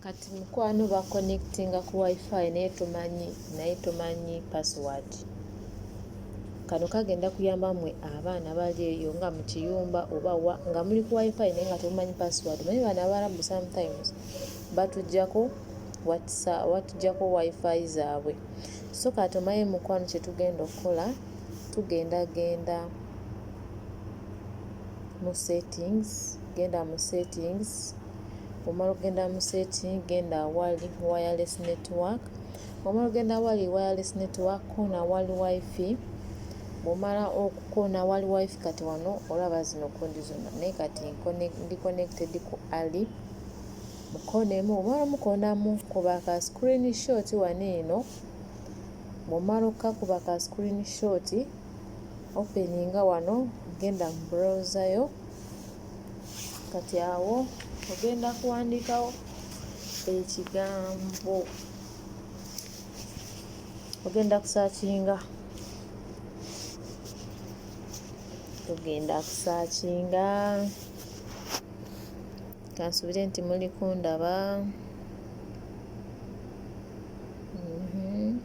kati mukwano ba connectinga ku wifi naye tomanyi naye tomanyi password kano kagenda kuyamba mwe abaana bali eyo nga mu kiyumba oba wa nga muli ku wifi naye nga temumanyi password naye bano abarabu sometimes batujako watsa watujako wifi zabwe so kati omaye mukwano kyetugenda okukola tugenda genda mu settings genda mu settings omala okugenda mu setting genda awali wireless network omala okugenda awali wireless network kona awali wifi bwomala okukona awali wifi kati wano olaba zino kondi zona naye kati ndi connected ku ali mu koona emu omala omukonamu kuba ka screen shot wano eno bwomala okukakuba ka screen shot openinga wano genda mu browser yo kati awo ogenda kuwandikawo ekigambo ogenda kusakinga ogenda kusakinga Kansubire nti muli kundaba. Mhm.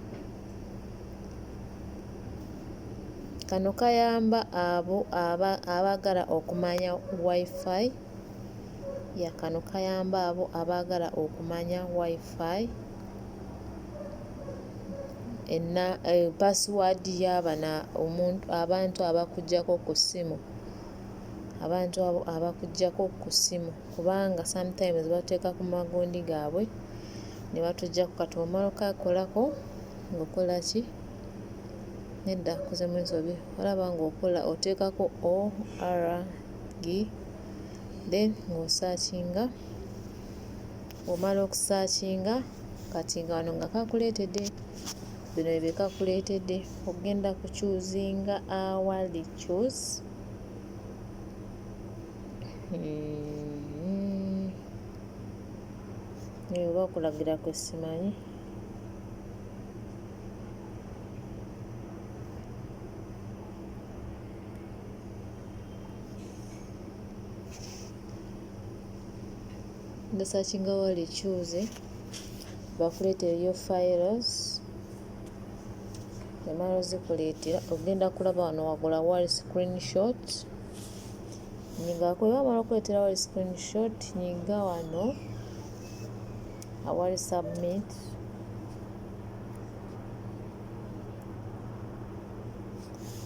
Kano kayamba abo aba abaagala okumanya WiFi. Ya kano kayamba abo abaagala okumanya WiFi enna eh, password y'abana omuntu abantu abakuggyako ku ssimu abantu abo abakuggyako ku ssimu kubanga sometimes batuteeka ku magundi gaabwe ne batuggyako kati omala okakolako ng'okola ki nedda kuzemu ensobi olaba ng'okola oteekako org then ng'osaakinga Omala okusaakinga kati nga wano nga kakuleetedde bino bye kakuleetedde okugenda ku chuzinga awali chus hmm. eyo oba okulagira kwe simanyi nga sakinga wali cuuzi bakuleetere yo files emala ozikuleetera ogenda kulaba wano wagula wali screenshot nyigako era omala okuleetera wali screenshot nyiga wano awali submit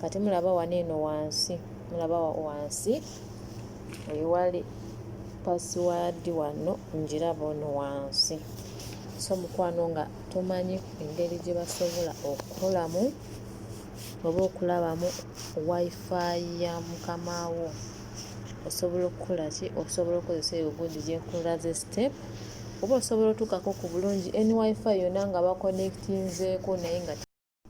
kati mulaba wano eno wansi mulaba wansi wewali password wano njiraba ono wansi so mukwano nga tumanyi engeri gye basobola okukolamu oba okulabamu wifi ya mukama wo osobola okukola ki osobola okukozesa eyo gundi gyekulaze step oba osobola otuukako ku bulungi ny wifi yona nga bakonectinzeeko naye nga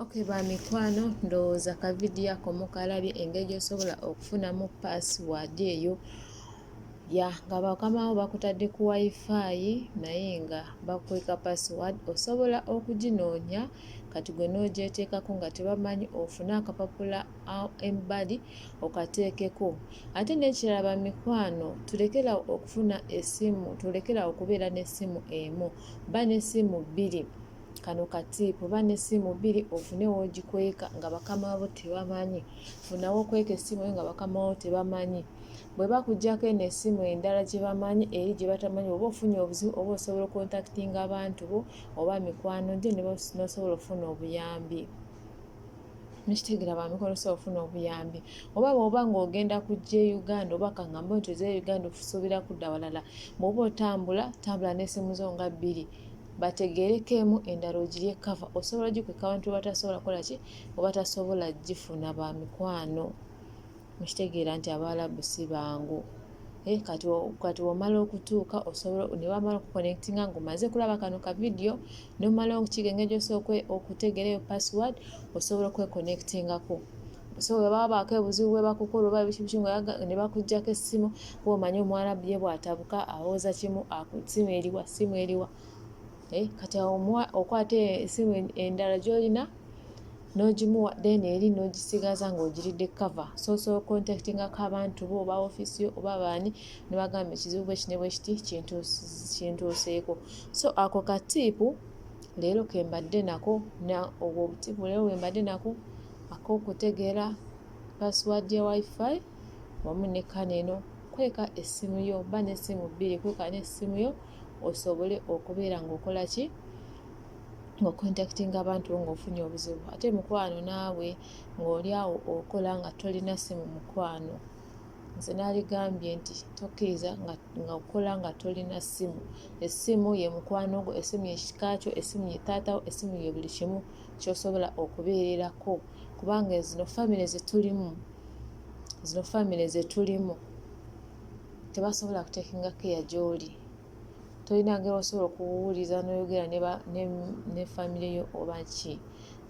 ok ba mikwano ndowooza ka vidiyo ako mukalabye engeri gyosobola okufunamu password eyo ya nga bakamawo bakutadde ku wifi naye nga bakweka password osobola okuginoonya kati gwe n'ogyeteekako nga tebamanyi ofune akapapula embali okateekeko ate n'ekirala bamikwano tulekerawo okufuna esimu tulekerawo okubeera n'essimu emu ba n'essimu bbiri kano ka tiipu ba n'essimu bbiri ofune w'ogikweka nga bakama bo tebamanyi funa w'okweka essimu yo nga bakama bo tebamanyi bwe bakuggyako eno essimu endala gye bamanyi eri gye batamanyi oba ofunye obuzibu oba osobola okontakitinga abantu bo oba mikwano gyo n'osobola okufuna obuyambi nekitegera bamikono sobola ofuna obuyambi oba bwoba ng'ogenda kujja e uganda oba kaŋambe nti oze e uganda osuubira kudda walala bwoba otambula tambula n'essimu zo nga bbiri bategeerekeemu endala ogirye kava osobola ogikweka abantu batasobola kola ki obatasobola gifuna ba mikwano mukitegeera nti abaalabu si bangu eh, kati kati omala okutuuka osobola ne bamala okuconnectinga ngaomaze kulaba kano ka vidiyo nomala okigenge gyosobola okutegeerayo password osobola okweconnectingako so bwe baba baako ebuzibu bwe bakukola oba ebikibuki nga ne bakuggyako essimu kuba omanyi omwana ye bw'atabuka awooza kimu simu eriwa simu eriwa eh, kati okwata esimu endala gy'olina n'ogimuwa then eri n'ogisigaza ng'ogiridde cover soso contactingako abantu bo oba ofiisi yo oba baani ne bagamba ekizibu bwe kine bwe kiti kintuuseeko so ako katiipu leero ke mbadde nako na obwo obutiipu leero bwe mbadde nako ak'okutegeera password ya wifi wamu ne kana eno kweka essimu yo ba n'essimu bbiri kweka n'essimu yo osobole okubeera ng'okola ki ng'okontakitinga abantu ng'ofunye obuzibu ate mukwano naawe ng'oli awo okola nga tolina ssimu mukwano nze naligambye nti tokkiriza nga okola nga tolina ssimu essimu ye mukwano gwo essimu ye kika kyo essimu ye taatawo essimu ye buli kimu kyosobola okubeererako kubanga zino famire zetulimu zino famire zetulimu tebasobola kutekinga keya gyoli tolina ngeri osobola okuwuliza noyogera ne famire yo oba ki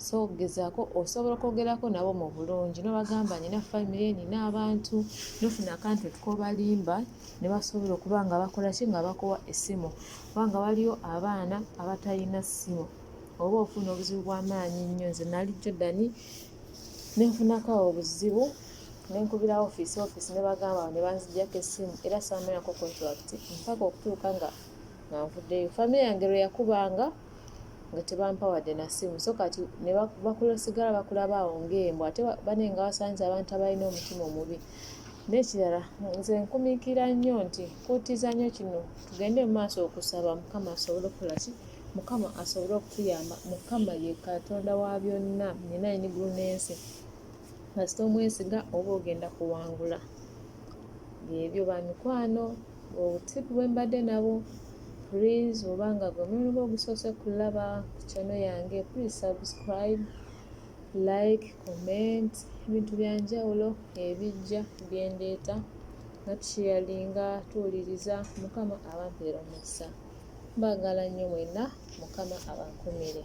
so gezaako osobola okwogerako nabo mu bulungi nobagamba nina famire nina abantu nofuna akantu tukobalimba ne basobola okuba nga bakolaki nga bakuwa essimu kubanga waliyo abaana abatalina ssimu oba ofuna obuzibu bw'amaanyi nnyo nze nali jordan nenfunako obuzibu nenkubira office office nebagamba ne banzijjako essimu era saamalako contract mpaka okutuuka nga nga nvuddeyo famire yange lwe yakubanga nga tebampawadde na ssimu so kati ne bakula osigala bakulaba awo ng'embwa ate bane nga wasanze abantu abalina omutima omubi n'ekirala nze nkumiikira nnyo nti kuutiza nnyo kino tugende mu maaso okusaba mukama asobole okukola ki mukama asobole okutuyamba mukama ye katonda wa byonna nyina enigulu n'ensi kasita omwesiga oba ogenda kuwangula byebyo bamikwano obutipu bwembadde nabo please oba nga gwe mulimu gwe ogusoose kulaba ku kyano yange please subscribe like comment ebintu byanjawulo ebijja byendeeta nga tusheyalinga tuwuliriza mukama abampeera omukisa Mbagala nnyo mwenna mukama abakumire.